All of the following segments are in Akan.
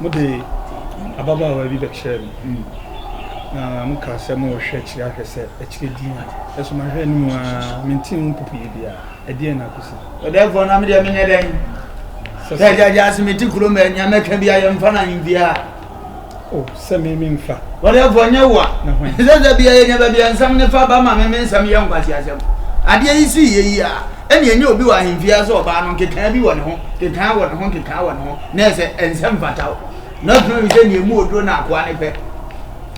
Mode ababaawa bi bɛkyerɛɛ me, na mokaa sɛ morehwɛ akyiri ahwɛ sɛ akyire din a. Nanso mahwɛ anim ara, mentee mu popoyɛ biara. Ɛdeɛn na akosi? Ɔdɛɛfoɔ, na medeɛ menyɛ dɛn? Sɛ gyagyaa se mete kurom a, nea mɛka biara yɛmfa no ahemfie ha. O sɛ me me mfa. Ɔdɛfoɔ nyɛ wo a. Na hwan. Sɛ da bia yɛnya baabi a nsɛm no fa ba ma me me nsɛm yɛ nkwaseasɛm. Adeɛ yi siiɛ yi a, ɛne ɛnyɛ obi wɔ ahemfie ase ɔbaa no nkekaa bi wɔ ne ho, kekaa wɔ ne ho, nkekaa wɔ ne ho, na ɛsɛ ɛnsɛ mfata wo. Na ɔtena wi sɛ neɛ mu oduro na akoa ne pɛ.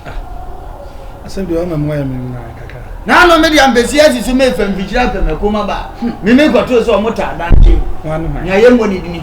Ah, asɛm deɛ ɔma mu ayɛ me mmaa kakra. Na ano me deɛ mpɛsi asisi me fam fikyiri afɛ mɛ kɔma ba. Hmm. Me me kɔtoo sɛ ɔmo taa dan kyɛm. Wɔn ano hwan. Nea yɛ mmɔ ne dini.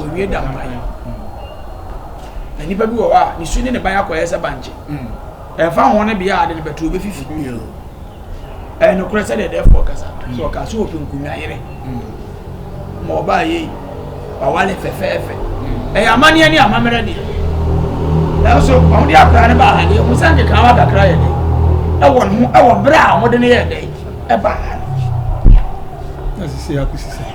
Owie da mpan no na nipa bi wɔ hɔ a ne su ne ne ban akɔyɛ sɛ bankye ɛmfa ho ne bea a de ne bɛtoro bɛfifi ɛyɛ nokorɛ sɛ deɛ dɛfoɔ kasa sɛ ɔka sɛ ɔpɛ nkunya yere ma ɔbaa yei wawale fɛfɛɛfɛ ɛyɛ amanneɛ ne amammerɛ deɛ nanso wɔn de akora no baa ha deɛ wɔn sɛ nkeka wa kakra yɛ dɛ ɛwɔ ne ho ɛwɔ berɛ a wɔde no yɛ dɛ ɛbaa ha no. Asisi akusisi.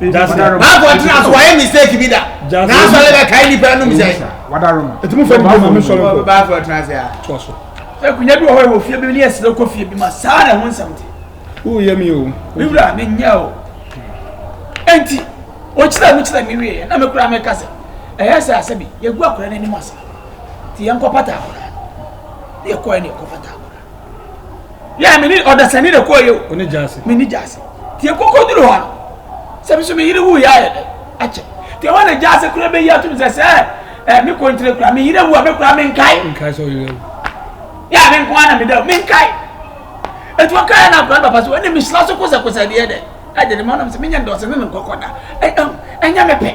baako ɔtena so wayɛ mistake bi da n'asɔ ne bɛ kae nipa anum sɛ ɛtumu fɛ nipa mu sɔrɔ baako ɔtena se a. ɛkunya bi wɔ hɔ yɛ wɔ fie bi ne yɛ sere kɔ fie bi ma saa na ɛho nsɛm te. o yɛ mi o. mi wura mi nya o ɛnti ɔkyerɛ mu kyerɛ mi wie na mi kura mi kasa ɛyɛ sɛ asɛ bi yɛ gu akora n'anim ase ti yɛn kɔ pata akora yɛ kɔ yɛ ne yɛ kɔ pata akora. yɛ me ne ɔdasani na kɔɔ yɛ o ɔne gyaase me ne gyaase te koko duro hɔ no sɛ me so me yere wu yɛ ayɛ dɛ akyɛ te hɔ na gyaase kura bɛyi atum sɛ sɛ ɛ me kɔntire kura me yere wu a me kura me nkae nkae sɛ ɔyere wu yɛ a me nko ara na me da me nkae etu ɔka yɛ na akura papa so ɛna me hyira so kosɛkosɛ deɛ dɛ ɛde ne ma ɔnam sɛ me nyɛ ndɔsɛ ne ne nkɔkɔ da ɛnyɛ me pɛ.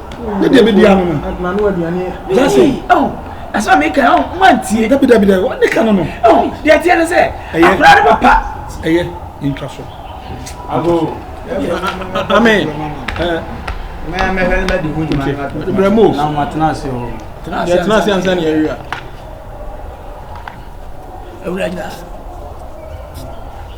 ne deɛ bɛdi ano no adena no aduane jase ɛsɛ mi ka ɔn mo antie dabi dabi dabi ɔne ka no no ɔn deɛ teɛ no sɛ akora ne papa ɛyɛ ntwa so abo amen mɛyɛ mɛhwɛ ne bɛdi ho nyuma no brɛ mo na mo atena ase o deɛ tena ase ansa ne awia awura nyina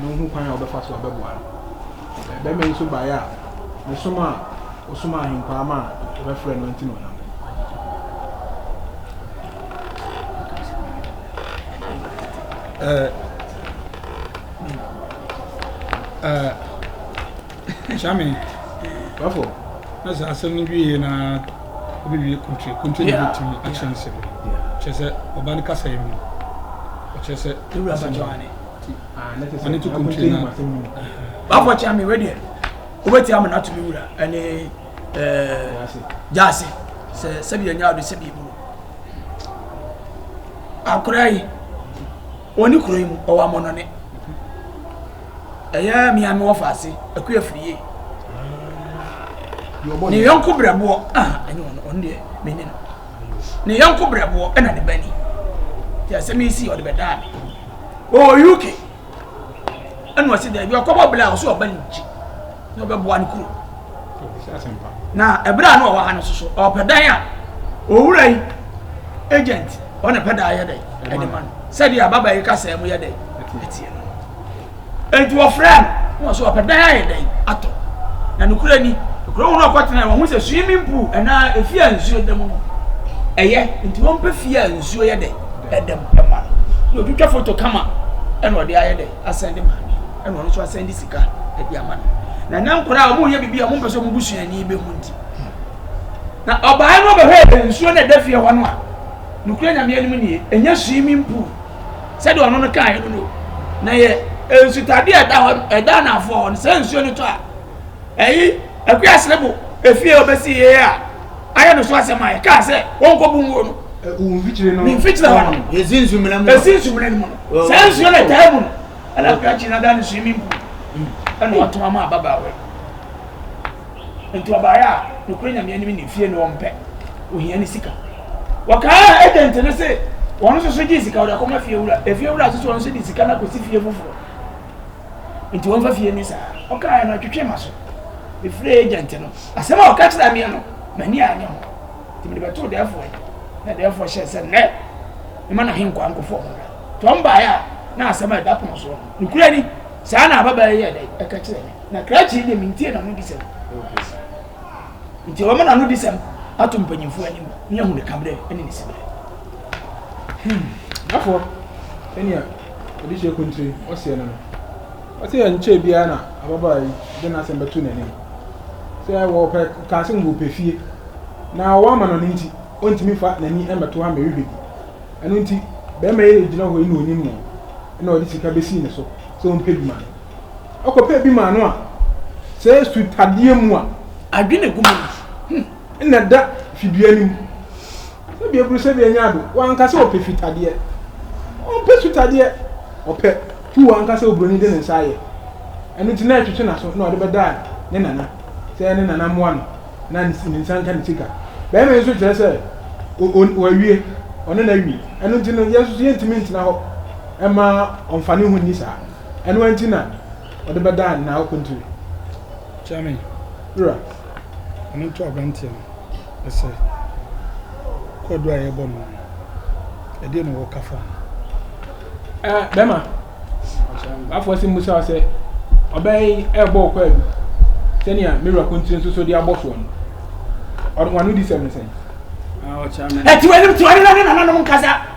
na ohu kwan a ɔbɛfa so abɛboa no. Ɛɛ, barima yi nso baeɛ a, ne som a ɔsom ahenkwaa ma a wɔbɛfrɛɛ no nti na ɔnam. Ɛɛ. Eh, Shami, wafɔ na sɛ asɛm no wie na wobɛwie kuntre kuntre na bɛtumi akyerɛ nsɛm kyerɛ sɛ ɔba no kasa yi mu ɔkyerɛ sɛ ɔne to kuntire no bafo kyea me wedeɛ wobɛtia me nato me wura ɛne gyaase sɛ sɛdeɛ nya wode sɛdeɛ buro akora yi ɔne kuro yi mu ɔwɔ amɔnɔne ɛyɛ mea me wɔfa ase akua firi yie ne yɔnko brɛboɔ ɛne ɔno ɔno deɛ mene no ne yɔnko brɛboɔ ɛna ne bani yɛ sɛ mesi ɔde bɛdaa me ɔwɔ uk ɛna ɔsi dɛ bi ɔkɔbɔ bla ɔsɛ ɔba ne nkyi na ɔbɛboa no kuro na ɛberɛ a na ɔwɔ ha no soso ɔpɛ dan a owura yi agent ɔne pɛ dan yɛ dɛ ɛde ma no sɛdeɛ ababa yi kasa mu yɛ dɛ ɛteɛ no Enti wɔfrɛɛ no, na ɔse ɔpɛ dan ayɛ dɛn atɔ. Na nokorɛ ni, kuro mu no ɔkɔtenaeɛ, wɔahu sɛ swimming pool anaa efie a nsuo da mu no ɛyɛ, nti wɔmpɛ fie a nsuo yɛ dɛn, ɛda mu ɛma no. Na ɔtwitwa foto kama ɛna ɔde ayɛ dɛn, asɛnde ma no, ɛna ɔno nso asɛnde sika ɛde ama no. Na ɛnɛ nkwadaa a wɔreyɛ biribi a wɔmpɛ sɛ wɔn busuani bɛhu nti. Na ɔbaa no ɔbɛhwɛɛ nsuo no ɛda fie hɔ no a, nokorɛ Nyame anim nie, ɛnyɛ swimming pool. sɛdeɛ ɔno no kaeɛ no no na yɛ nsutadeɛ a ɛda hɔ ɛda anafoɔ hɔ no sɛ nsuo no tɔ a ɛyi akuya serebo efie ɔbɛsi yie a ayɛ no so asɛm a yɛkaa sɛ wɔnkɔbu nguo no ne mfikyire hɔ no ɛsi nsumena no mu no saa nsuo no ɛtaa mu no ɛna akuya kyi no ada no swimming pool ɛna ɔtoma ma ababaawa yi Enti ɔbaeɛ a, nokorɛ Nyame anim ne fie no ɔmpɛ, ohia ne sika. Wɔkaaa agent no se, ɔno nso so gyee sika ɔde akɔma fie wura. Efie wura nso so ɔno nso de sika no akɔsi fie foforɔ. Enti wɔmfa fie no saa. Ɔkaeɛ no ɔtwetwee m'aso. Mefrɛɛ agent no. Asɛm a ɔka kyerɛɛ meɛ no, m'ani anyɛ ho. Enti mede bɛtoo dɛɛfoɔ yi. Na dɛɛfoɔ hyɛɛ sɛ nnɛ, mema n'ahenkwaa nkɔfoɔ ho mmra. Nti wɔn baeɛ a, na asɛm a ɛda pono soɔ no, nokorɛ ni. Saa na ababaa yi yɛɛ dɛn? Ɛka kyerɛɛ me. Na krakye yi deɛ mentie n'anodisɛm. Nti wɔma n'anodisɛm ato mpanyimfoɔ anim ne ahuneka berɛ ne ne siberɛ. Hmm. Dafo ɛnea ɔde hyɛ kuntiri ɔseɛ no no. Ɔsɛ ɛnkyɛ biara na ababaa yi de n'asɛm bɛto n'anim. Sɛ wɔpɛ kaa sɛ wɔpɛ fie na ɔwɔ ama no no nti, ɔntumi fa n'ani mmɛto ha mmɛhwehwɛ bi. Ɛno nti, barima yi gyina hɔ yi na ɔnim no na ɔde sika bɛsii ne so sɛ ɔmpɛ bi ma no. Ɔkɔpɛ bi maa no a, sɛ su tadeɛ mu a. Adwene gu mu hmm, na da fidua no mu. Sɛbi aburu sɛbi anya ado, wanka sɛ ɔpɛ fitadeɛ. Ɔmpɛ su tadeɛ, ɔpɛ tu wanka sɛ oburoni de ne nsa ayɛ. Ɛno nti na ɛtwetwe n'aso na ɔde bɛda ne nana. Sɛ ne nana mmoa no, na ne nsa nka ne sika. Bɛrima yi nso kyerɛ sɛ wawie, ɔne no awie. Ɛno nti no, yɛn nso yɛntumi ntena hɔ ɛma ɔmfa ne ho nni saa. Ɛno ara nti na ɔde bɛdaa ne nan okontiri. Kyɛme. Wura. Ɔno nto aberanteɛ no ɛsɛ kwaduro a yɛbɔ no no ɛdeɛ na wɔka fa ho. Ɛɛ bɛma afɔ si musa wo sɛ ɔbɛn yi ɛbɔ ɔkɔ adu sɛnea me wura kontiri nso so de abɔ soɔ no ɔno wano di sɛm no sɛn. Ɔkyɛme. Ɛtiwani tiwani na ne nananom nkasa.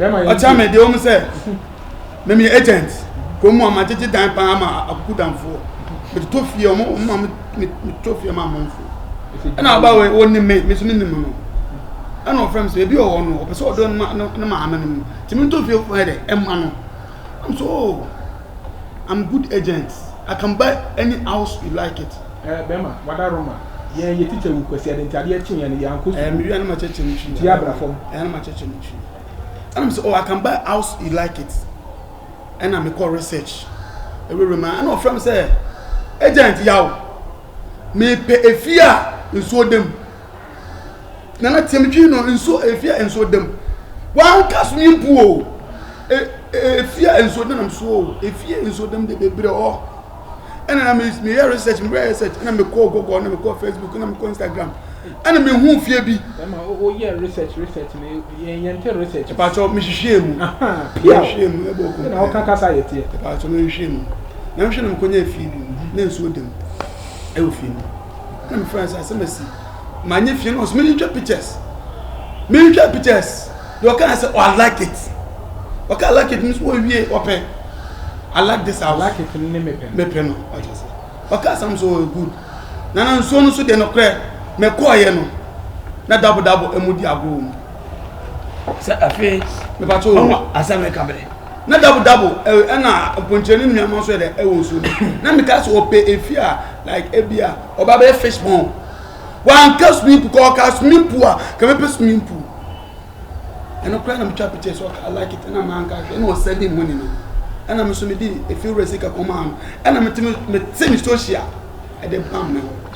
ɔkyɛ me deɛ ɔmu sɛ meme agent kɔ mu a magyegye dan paa ma akuku damfoɔ metotɔ fie ɔmo ɔmo ma metotɔ fie ma amanfo ɛna aba wɔ ɔnim me me so me nim no ɛna ɔfrɛ me sɛ ebi wɔ hɔ no ɔpɛ sɛ ɔdɔ ne maame no mu tìmi ntɔ fie fún ɛ dɛ ɛma no. I'm so I'm good agent I can buy any house you like it. Eh bɛma wada Roma yɛn yɛ teacher wu kwasi ɛde nti adeɛ kye yɛn no yɛn ankɔ sukuu. Eh mewia na ma kyɛkyɛ me twi. Ti abra fam. Eh na ma kyɛkyɛ me twi. Ɛna me sɛ oh I can buy house you like it ɛna me kɔ research ɛwɛwɛ mu ɛna ɔfrɛ me sɛ agent yaw mepɛ efie a nsuo da mu. nana tiɛ mi twi no nsuo efi a nsuo dam wanka swimming pool o efi a nsuo denam so o efi a nsuo dam de bebree hɔ ɛna na mi mi yɛ research mi yɛ research ɛna mi kɔ google ɛna mi kɔ facebook ɛna mi kɔ instagram ɛna mi hu fie bi. ɛma o yɛ research research na yɛn yɛn ti research. ìpàtọ́ mi hwehwẹ́ mu mi hwehwẹ́ mu ɛbɔ ogun. ɛna ɔka kasa yɛ tiɛ. ìpàtọ́ mi hwehwẹ́ mu na mi hwehwẹ́ na mi kɔ nyɛ fie bi na nsuo dam ɛwɔ fie mu. ɛna mefrɛ sɛ asɛm asi manyɛ fie no ɔsɛ menhwɛ pictures menhwɛ pictures deɛ ɔkaa sɛ oh, I like it ɔka I like it no so wɔwie ɔpɛ I like this house I like it ne mepɛ mepɛ no ɔkyɛ sɛ ɔka asɛm so oh, good nana nsuo no so deɛ nokorɛ mekɔɔyɛ no na dabodabo ɛmu di agorɔ mu sɛ afei mepatwo asɛm ɛka berɛ na double double ɛna eh, mpɔnkyerɛ ne nnuama nso yɛ dɛ ɛwɔ nsuo no na meka sɛ ɔpɛ efi a like ebi a ɔba bɛyɛ fish pond wanka swimming pool kɔ ɔka swimming pool a kɛmɛ pɛ swimming pool ɛno koraa na metwa picture so ɔka like it ɛna manka hwɛ ɛna ɔsɛ de mu ni no ɛna me so mede efi wura sika kɔmaa no ɛna mete me social ɛde bam me hɔ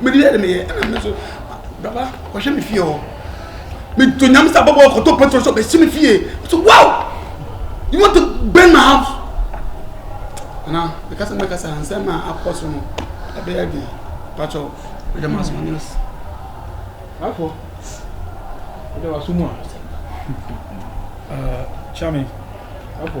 mede yɛ de meyɛ ɛna me so baba ɔhwɛ me fie hɔ meto nyame sɛ abɔbɔ ɔkɔtɔ petro sɛ ɔbɛsi me fie so wow you want to burn my house ana meka sɛ mɛka sɛ ansɛm a akɔ so no ɛbɛyɛ de pakyɛw mede ma so anyɛ se afɔ wode waso mu a kyame afɔ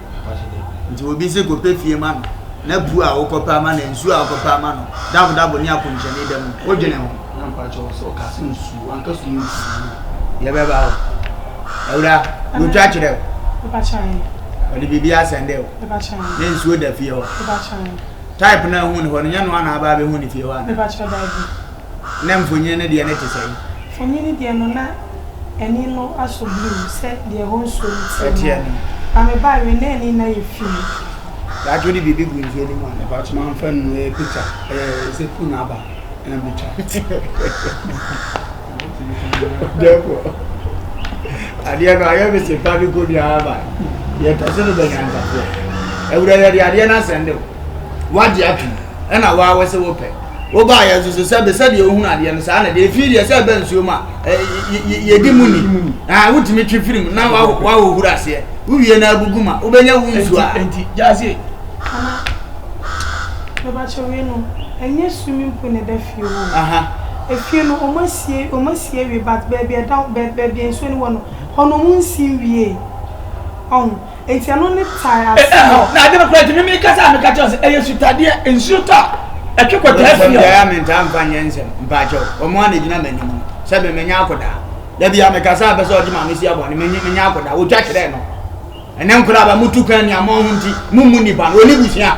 Nti obi se kɔpɛ fie ma no, na puo a wokɔpɛ ama no, nsuo a wokɔpɛ ama no, dabodabo ne akɔnhyɛne da mu. Wodwene ho? Na mpakyɛ wɔ sɛ ɔka se nsuo, wanka so yɛ nsuo. Yɛ bɛ ba hɔ. Awura, wɔtwa kyerɛ o. Mepakyɛ ahe? Ɔde biribi asɛnde o. Mepakyɛ ahe? Ne nsuo da fie hɔ. Mepakyɛ ahe? Type no a ɛhu ne hɔ no, nyɛ noa na aba abɛhu ne fie hɔ anaa? Mepakyɛ daabi. Ná mfonini no deɛ no te sɛn? Mfonini deɛ no, na ani no asɔ blue sɛ deɛ ɛhɔ nsuo no teɛ no ara. Na mebaa awie na ani no ayɛ fi. Daakye wode biribi gu nsuo no mu a? Mpakyem amfa nnu ɛyɛ picture ɛyɛ sɛ phone aba ɛna metwa. Dɛpɔ adeɛ no ayɛ me sepa me kɔ biara ba yɛtɔ so no bɛnya ntafoɔ awura yɛde adeɛ no asɛnde wo wagye atom ɛna waa wɔ sɛ wopɛ Wobaa yɛn so so sɛ be sɛdeɛ wohunu adeɛ no saa na deɛ efiri deɛ sɛ ɛbɛ nsuo mu a yɛdi mu ni ah wotumi twi firi mu na wahohoro aseɛ wowie na agugu ma wobɛnya wo nsuo a. Nti gyaase. Mama mebakyɛ wei no ɛnyɛ swimming pool na ɛda fie hɔ o efie no wɔn asie wɔn asie awie but baabi ɛda baabi nsuo no wɔ no hɔ no wɔn nsi nwie ɔho. Enti ɛno ne tae eh, ase eh, no. Oh, na ade no kora nti mimi kasa a meka kyerɛ sɛ ɛyɛ sutadeɛ nsuo tɔ a ɛtwe kɔtaa fie. Wɔgyae a mentaa mfa nyɛ nsɛm mpaakyɛw wɔn a na gyina m'anim no sɛ memenya akodaa da bi a mekasa a pɛ sɛ ɔde maame si abɔne menya akodaa wɔtwa kyerɛɛ no ɛnɛ nkora ba motu kwan nea moaho nti mommu nnipa no ɔne busua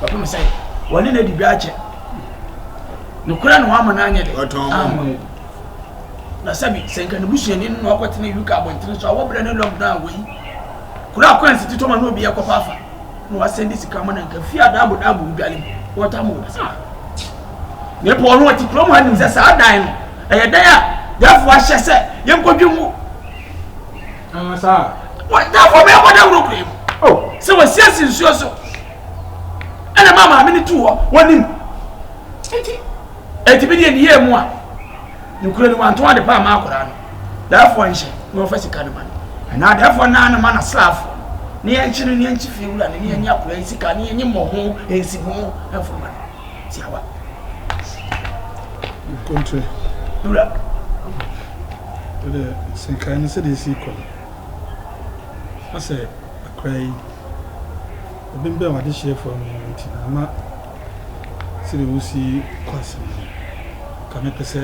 kɔpem sɛ wɔne no adi dwa akyɛ. Nokorɛ na wɔama no anyɛ dɛ. Ɔtɔn mo. Ammɔ mu. Na sɛbi, sɛ nka ne busuani no na ɔkɔtena UK abɔntene so a, wɔbrɛ ne lockdown a wɔyi. Kuro a coins tetɔ ma na obiara kɔfa afa, na wɔasɛnde sika ma no anka fie a daabo daabo wo dwale mu. Wɔtaa mo wɔ saa. Na epo ɔno ɔte kurom ha nim sɛ saa dan no, ɛyɛ dan a dɛfo ahyɛ sɛ yɛnkɔdwe mu. Ah, saa. Wɔ dɛfo bɛyɛ kɔda wuro kura mu. Oh. Sɛ wɔasiesie nsuo so. ɛna ɛma maame no tuu hɔ wɔnim nti ɛti bi deɛ ne yɛ mu a ne kura no wanto ade pa ama akwadaa no daafoɔ nhyɛ na wɔfa sika no ma no ɛna daafoɔ naa no ma no asraafoɔ ne yɛn nkyi no ne yɛn nkyi fie wura no ne yɛn nyɛ akwadaa yi sika ne yɛn nyɛ mmɔ ho ɛnsi ho ɛnfo ma no si awa. nkontre wura. ɛdɛ sɛ nkae no sɛdeɛ ɛsi kɔ no asɛ Akora yi, ɔbembɛn w'adehyeɛfoɔ no ho nti na ama sɛdeɛ wosi kɔ asɛm no. Nka mɛpɛ sɛ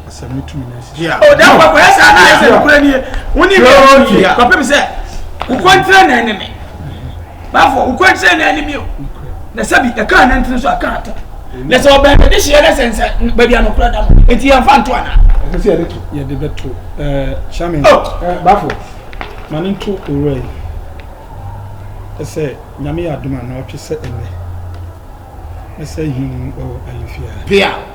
asɛm no tumi na asi so. O da kwa kwa sa na ese nokura nie. Woni me yi kwa pem se wo kontra na ne me. bafo wokɔ kyerɛ na anim yɛ na sɛbi ɛka anantene so aka ata na sɛ ɔbɛn bɛde hyeɛ na sɛnsɛ baabi anokora da no ɛti yɛmfa nto ana ɛsɛ sɛ yɛde to yɛde bɛto hyame bafo ma ne nto owura yi ɛsɛ nyame yɛ adom a na ɔtwe sɛ ɛnɛ ɛsɛ him ɔ ayefia pia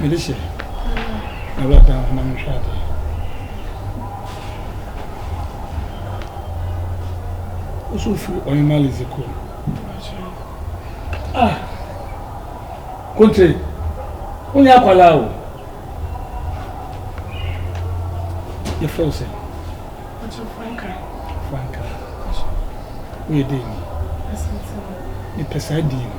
Melissa, na wura dan ho na menhwɛ adeɛ. Woso firi ɔhema Lizzy kɔ. Ah, kontre, wonyɛ akwalaa o. Yɛfrɛ wo sɛ? Franka. Franka, woyɛ dɛ ni? Mepɛ saa din no.